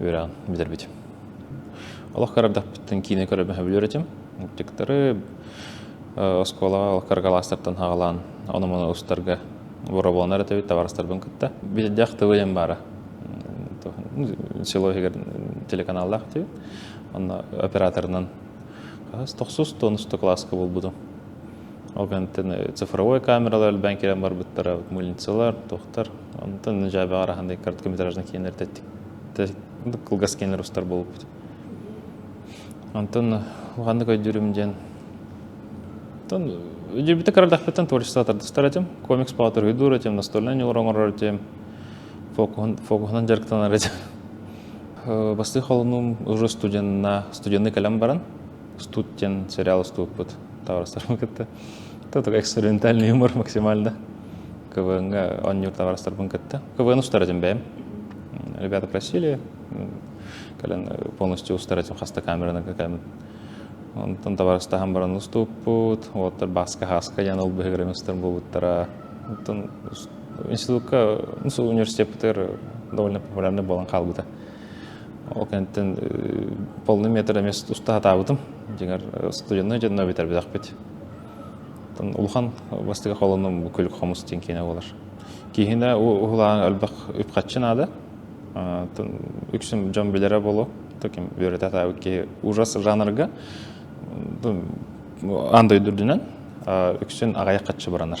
үөрэҕин бүтэрбитим. Олох көрөрдөхпүттэн киинэ көрө бөһөбүлөр этим. Мультиктары оскуолаҕа олох кыргалаастартан хаалаан ону-маны устарга боробуонар этебит табарастарбын кытта. Бирдэх тылыйым баара. Село иһигэр телеканаллаах этибит. Онно операторынан хас тохсус туонусто класска булбутум. Ол кэнтэн цифровой камералар элбээн кэлэн барбыттара мыльницалар, туохтар. Онтон дьаабаҕар ахан короткометраждан кииннэр тэттик кылгас кииннэр устар буолбут. Онтон уханнык өйдүүрүм диэн Оттон дьиэбитэ кыралдахпыттан творчество тардыстар этим. Комикс поатырыйдуур этим, настольнай ньугур оҥорор этим. Фокуһунан дьарыктанар этим. Бастыы холунум уже студенна, студенный кэлэн баран, Студ диэн сериал уступпут таҕарыстарбын кытта тутук экспериментальный юмор максимально КВН-ҥа оонньуур таҕарыстарбын кытта КВН устара этим бэйэм ребята просили кэлэн полностью устара этим хаста камераны кэкэмин онтон табарыстаһан баран уступпут уоттар баска хаска ян ол быһыгырым устар буолуттара оттон институтка университетпытыгар довольно популярный болан хаалбыта Ол кэнниттэн полный метр эмиэ уста сатаабытым. Дьиҥэр студеннай дьонно бүтэрбэтэхпит. Оттон улахан бастакы холонум бу күлүк хомус диэн киинэ буолар. Киинэ уһулаан элбэх үп-харчы наада. Оттон үксүн дьон билэрэ буолуо, ким үөрэтэ сатаабыт киһи ужас жанрга ан дойду үрдүнэн үксүн аҕайах харчы баранар.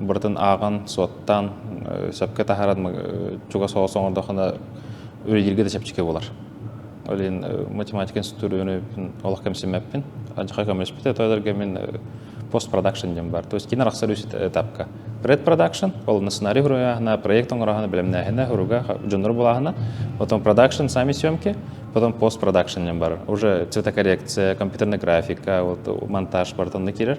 барытын ааҕан, суоттаан, сөпкө таһааран чугас оҕо оҥордоххуна үлэлииргэ да чэпчэки буолар. Ол иһин математика институтугар олох кэмсиммэппин. Алдьархай көмөлөспүт, тойолорго мин постпродакшн диэн бар. То есть киин арахсар үс этапка. Предпродакшн, ол сценарий хуруйааһына, проект оҥороһуна, бэлэмнээһинэ, хуруга дьоннор булааһына, потом продакшн, сами съемки, потом постпродакшн диэн бар. Уже цветокоррекция, компьютерная графика, вот монтаж бартонна кирер.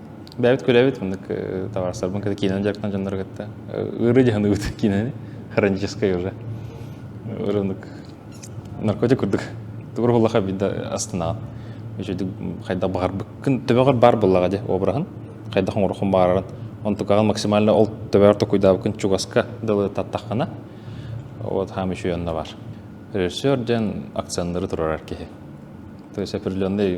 бэйэбит күрэбит мындык табаарыстарбын кытта киинэни дьарыктан дьоннору кытта ыыры дьаһаныбыт киинэни хроническай уже ырынык наркотик курдук тугур буллаха биирдэ астынаҕын үчүгдүк хайдах баҕарбыккын төбөҕөр баар буллаҕа дьэ обраһын хайдах оҥороххун баҕарарын онтукаҕын максимально ол төбөҕөр токуйдаабыккын чугаска дылы таттаххана вот хаам үчү онно бар режиссер дьэн акценнары турарар киһи то есть определенный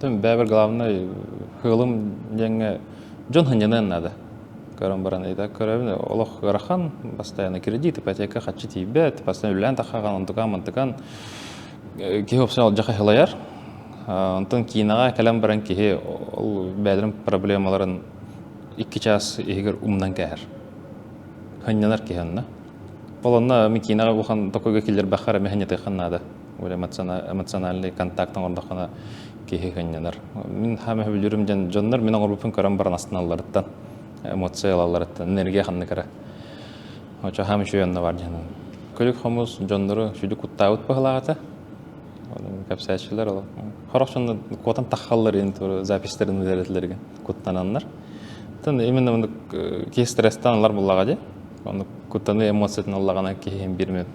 бэйэбэр главнай кыылым диэҥҥэ дьон сынньаныан наада көрөн баран ыйда көрөбүн олох ыарахан бастайаана кредит ипотека харчы тиийбэт бастайан үлэлээн таххаҕан онтукаан мантыкаан киһи офсен алдьархай сылайар онтон киинэҕэ кэлэн баран киһи ол бэйэлэрин проблемаларын икки чаас иһигэр умнан кээһэр сынньанар киһи онно ол онно мин киинэҕэ бухан токойго киллэрбэххэ эрэ сынньатыахха наада эмоциональный контакт оҥордоххуна киһи хынньанар. Мин хаама сөбүлүүрүм дьон дьоннор мин оҥорбуппун көрөн баран астыналларыттан, эмоция ылалларыттан, энергия ханнык эрэ. Очо хаама үчүгэй онно бар дьонун. Күлүк хомус дьоннору сүдү куттаабыт быһылаата. Кэпсээччилэр ол хорохчонно куотан таххаллар ин записьтерин үөрэтилерге куттананнар. Тан именно мындык киһи стресстан алар буллаға же. Оны куттаны эмоциятын аллагана киһи бирме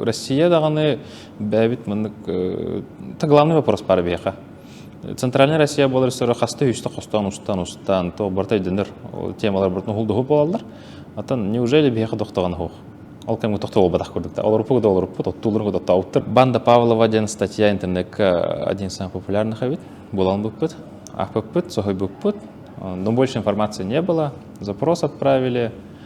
Россия даҕаны бэйэбит маннык главный вопрос бар биһиэхэ. Центральная Россия буолар сөрө хаста үстэ хостоон устан устан то барта өйдөнөр темалар бартын уһулдуху болалар. Атан неужели биһиэхэ тохтоган хох? Ол кэмҥэ тохтоҕу бадах көрдүктә. Олорпук да олорпут, оттуулар да оттауттар. Банда Павлова деген статья интернетке один из самых популярных эбит. Болан букпут, ахпыппыт, сохойбуппут. Но больше информации не было. Запрос отправили.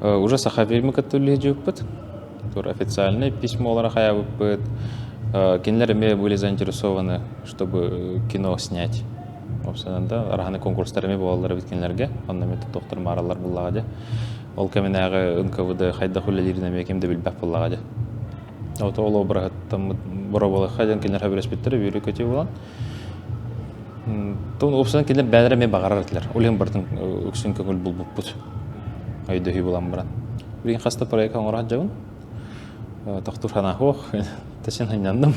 Уже Сахафильмы кытта үлүһүйбүппүт. Тур официальнай письмолары хайабыппыт. Кинилэр эмиэ были заинтересованы, чтобы кино снять. Опсынан да араһаны конкурстар эмиэ буолаллар эбит кинилэрге. Онно эмиэ тоттохтор маараллар буллаҕа дьэ. Ол кэминээҕи НКВД хайдах үлэлиирин эмиэ ким да билбэх буллаҕа дьэ. Ото ол обраһыттаммыт боробулахха диэн кинилэр хабиреспиттер үбүрү көтүү булан Тун уопсанан кинилэр бэйэлэрэ эмиэ баҕарар этилэр. Ол иһин барытын үксүн көҥүл булбуппут. Өйдөһүү буолан баран. Билигин хаста проект оҥоро сылдьабын. Тохтуур санаах Тэсин сынньандым.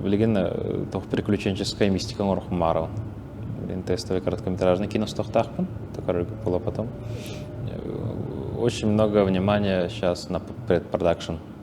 Билигин тоҕо приключенческая мистика оҥорохпун баарабын. Билигин тестовый короткометражный кино стохтаахпын. Который было потом. Очень много внимания сейчас на предпродакшн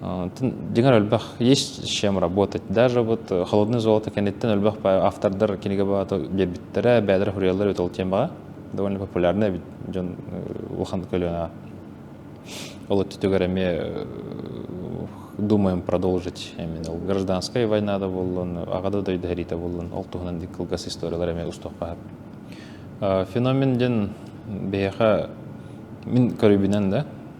Дьиҥэр элбэх есть с чем работать. Даже вот холодное золото кэнниттэн элбэх автордар кинигэ баҕата биэрбиттэрэ, бэйэлэрэ суруйаллар эбит ол диэн баҕа. Довольно популярно эбит дьон улахан көлүөнэ. Ол өттүгэр эмиэ думаем продолжить именно ол гражданская война да боллун аҕада дойду хэриитэ боллун ол туһунан дик кылгас историялар эмиэ устуохпаһар феномен диэн биһиэхэ мин көрүүбүнэн да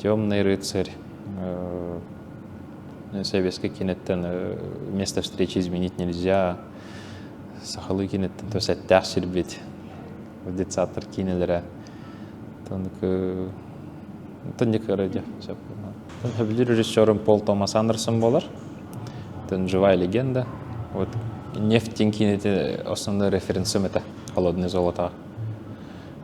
Темный рыцарь советский киноттан место встречи изменить нельзя сахалыы киноттан то сэттээх сирбит детсаттар кинелэрэ тоннык тонника радио сөбүлүр режиссером Пол Томас Андерсон болар тон живая легенда вот нефть кинети основной референсом это холодное золото